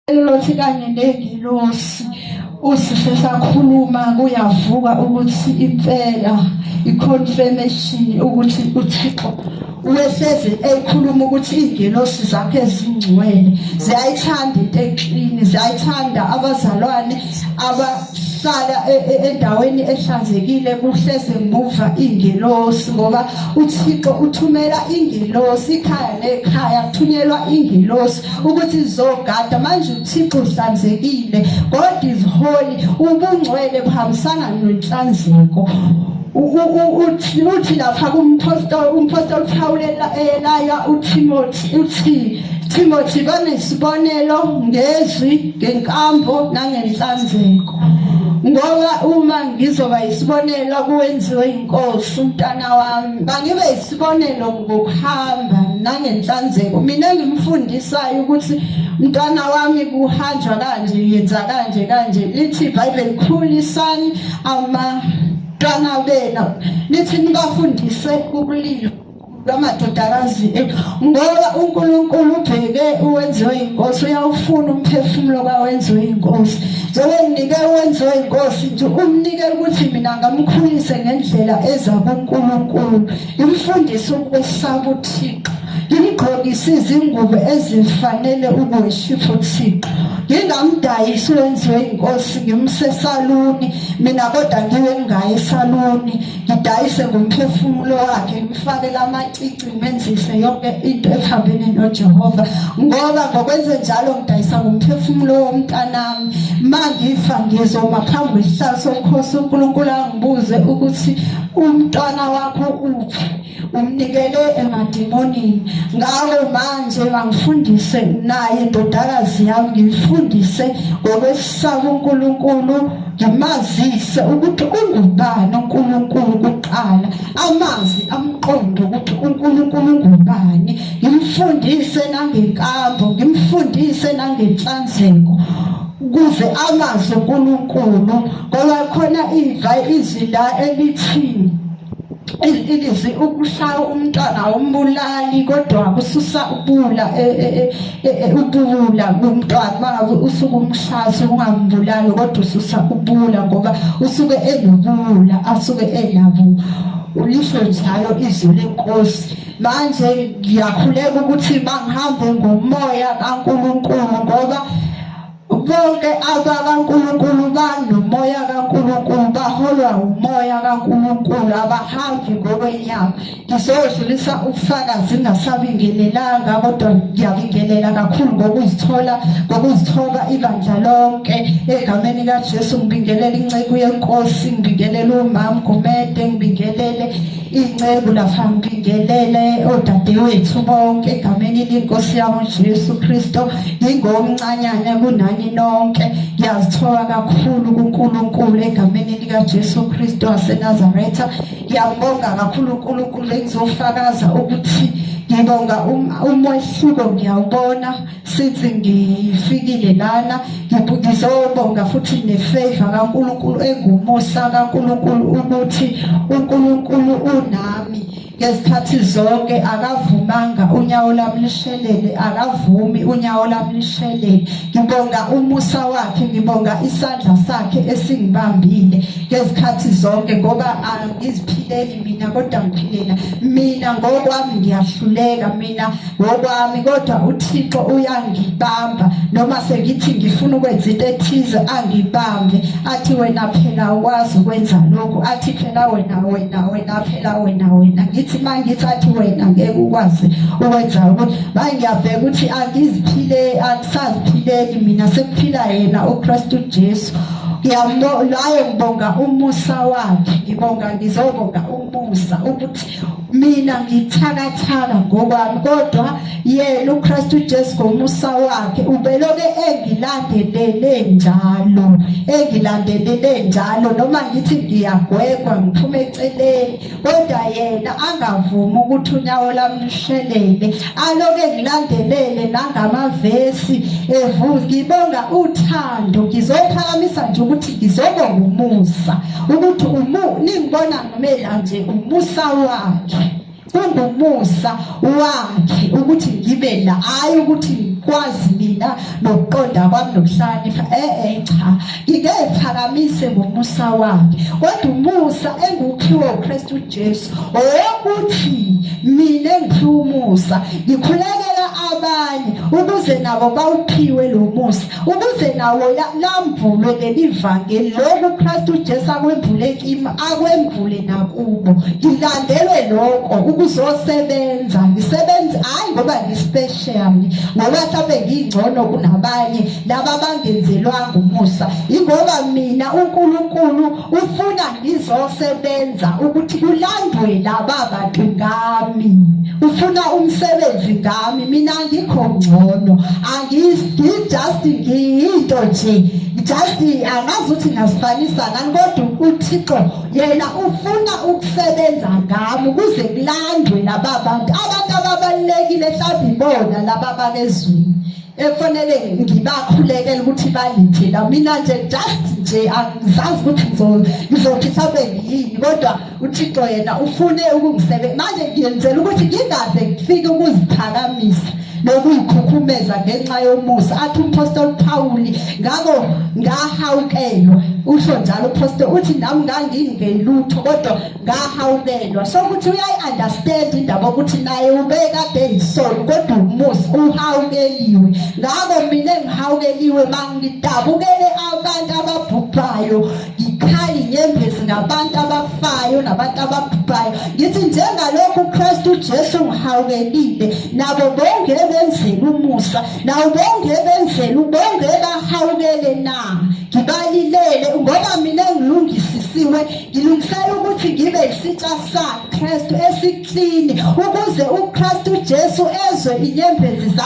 Elothi kanye nengilosi usishe sakhuluma kuyavuka ukuthi impela iconfirmation ukuthi uThixo uyohlezi ekhuluma ukuthi izingelosi zakhe ezingcwele ziyayithanda into eklini ziyayithanda abazalwane abahlala e, e, endaweni ehlanzekile kuhleze muva ingelosi ngoba uThixo uthumela ingelosi ikhaya nekhaya kuthunyelwa ingelosi ukuthi izogada manje uThixo uhlanzekile God is holy ubungcwele buhambisana nenhlanzeko uthi lapha kumpostoli umpostoli Pawule elaya uThimothi uthi Timothy banesibonelo ngezwi ngenkambo nangenhlanzeko ngoba uma ngizoba isibonelo kuwenziwe inkosi umntana wami bangibe isibonelo ngokuhamba nangenhlanzeko mina ngimfundisayo ukuthi mntwana wami kuhanjwa kanje yenza kanje kanje lithi ibhayibheli khulisani amantwana benu lithi nibafundise ubulilo lwamadodakazi ngoba unkulunkulu ubheke uwenziwe yinkosi uyawufuna umphefumulo kawenziwe yinkosi Njengengike wenziwe inkosi nje umnike ukuthi mina ngamkhulise ngendlela eza kuNkulunkulu imfundise ukwesaba uThixo ngimgqokise izingubo ezifanele ubuweshifu uThixo ngingamdayisi wenziwe inkosi ngimse esaluni mina kodwa ngiwe ngaye esaluni ngidayise ngomphefumulo wakhe ngifakele amacici ngisebenzise yonke into ekuhambeni noJehova ngoba ngokwenze njalo ngidayisa ngomphefumulo womntanami mangifa ngizoma phambi kwesihlalo somkhosi uNkulunkulu angibuze ukuthi umntwana wakho uphi umnikele emadimonini ngalo manje ngangifundise naye indodakazi yami ngifundise ngokwesaba uNkulunkulu ngimazise ukuthi ungubani uNkulunkulu kuqala amazi amqondo ukuthi uNkulunkulu ungubani ngimfundise nangenkambo ngimfundise nangenhlanzeko kuze amazi uNkulunkulu ngoba khona iva izwi la elithini ilizwi ukushaya umntwana awumbulali kodwa kususa ubula e, e, e, ubula kumntwana mangabe usuke umshaya ungambulali kodwa ususa ubula ngoba usuke enobula asuke enabo ulisho njalo izwi lenkosi manje ngiyakhuleka ukuthi bangihambe ngomoya kaNkuluNkulu ngoba Bonke abakaNkulunkulu banomoya kaNkulunkulu, baholwa umoya kaNkulunkulu, abahambi ngokwenyama. Ngizodlulisa ubufakazi ngingasabingelelanga, kodwa ngiyabingelela kakhulu ngokuzithola ngokuzithoba ibandla lonke egameni kaJesu. Ngibingelela inceku yenkosi, ngibingelela umam Gumede, ngibingelele Inceku lapha ngibingelele odadewethu bonke egameni lenkosi yabo Jesu Kristo ngingomncanyana kunani nonke ngiyazithola kakhulu kuNkulunkulu egameni lika Jesu Kristo waseNazaretha ngiyabonga kakhulu uNkulunkulu engizofakaza ukuthi ngibonga um-, umehluko ngiyawubona sithi ngifikile lana ngizobonga futhi nefavor kaNkulunkulu engumusa kaNkulunkulu ukuthi uNkulunkulu unami ngezikhathi zonke akavumanga unyawo lami lishelele akavumi unyawo lami lishelele ngibonga umusa wakhe ngibonga isandla sakhe esingibambile ngezikhathi zonke ngoba angiziphileli mina kodwa ngiphilela mina ngokwami ngiyahluleka mina ngokwami kodwa uThixo uyangibamba noma sengithi ngifuna ukwenza into ethize angibambe athi wena phela ukwazi ukwenza lokhu athi phela wena wena wena phela wena wena ngithi mangithi athi wena ngeke ukwazi ukwenza ukuthi bangiyaveka ukuthi angiziphile angisaziphileli mina sekuphila yena uKristu Jesu ngiyambo laye ngibonga umusa wakhe ngibonga ngizobonga umusa ukuthi mina ngithakathaka ngokwami kodwa yena uKristu Jesu ngomusa wakhe ubeloke engilandelele njalo engilandelele njalo noma ngithi ngiyagwegwa ngiphume eceleni kodwa yena angavumi ukuthi unyawo lami lushelele aloke ngilandelele nangamavesi evuza ngibonga uthando ngizophakamisa nje ukuthi ngizobonga umusa ukuthi umu ningibona Mela nje umusa wakhe kungumusa wakhe ukuthi ngibe la hayi ukuthi ngikwazi mina nokuqonda kwami nokuhlakanipha eh eh cha ngike phakamise ngomusa wakhe kodwa umusa engukhiwo uKristu Jesu owokuthi mina ngiphiwa umusa ngikhulekela abanye ukuze nabo bawuphiwe lo musa ukuze nawo lambulwe leli vangeli lokhu uKristu uJesu akwembule kimi akwembule nakubo ngilandelwe lokho ukuzosebenza ngisebenze hayi ngoba ngispecial ngoba mhlawumbe ngingcono kunabanye laba bangenzelwanga umusa ingoba mina uNkulunkulu ufuna ngizosebenza ukuthi kulandwe laba bantu ngami ufuna umsebenzi ngami mina ngikho ngcono angijust ngiyinto nje just angazi ukuthi ngasifanisa ngani kodwa uthixo yena ufuna ukusebenza ngami ukuze kulandwe laba bantu abantu ababalulekile mhlawumbe ibona laba babezwini efanele ngibakhulekele ukuthi bangithela mina nje just nje angizazi ukuthi ngizothi sabe yini kodwa uthixo yena ufune ukungisebe manje ngiyenzela ukuthi ngingaze ngifike ukuziphakamisa nokuyikhukhumeza ngenxa yomusa athi umpostoli phawuli ngako ngahawukelwa usho njalo uphostoli uthi nami ngangingenlutho kodwa ngahawukelwa so ukuthi uyayi-understand indaba ukuthi naye ubekade yisoni kodwa umusi uhawukeliwe ngako mina engihawukeliwe ma ngidabukele abantu ababhubhayo ngikhali nyembezi ngabantu abafayo nabantu ababhubhayo ngithi njengalokhu ukristu ujesu ngihawukelile nabo bonke ebenzela umusa nawo bonke ebenzela ubonge bahawukele na ngibalilele ngoba mina ngilungisisiwe ngilungisela ukuthi ngibe yisitsha sakristu esiklini ukuze ukristu jesu ezwe inyembezi zakho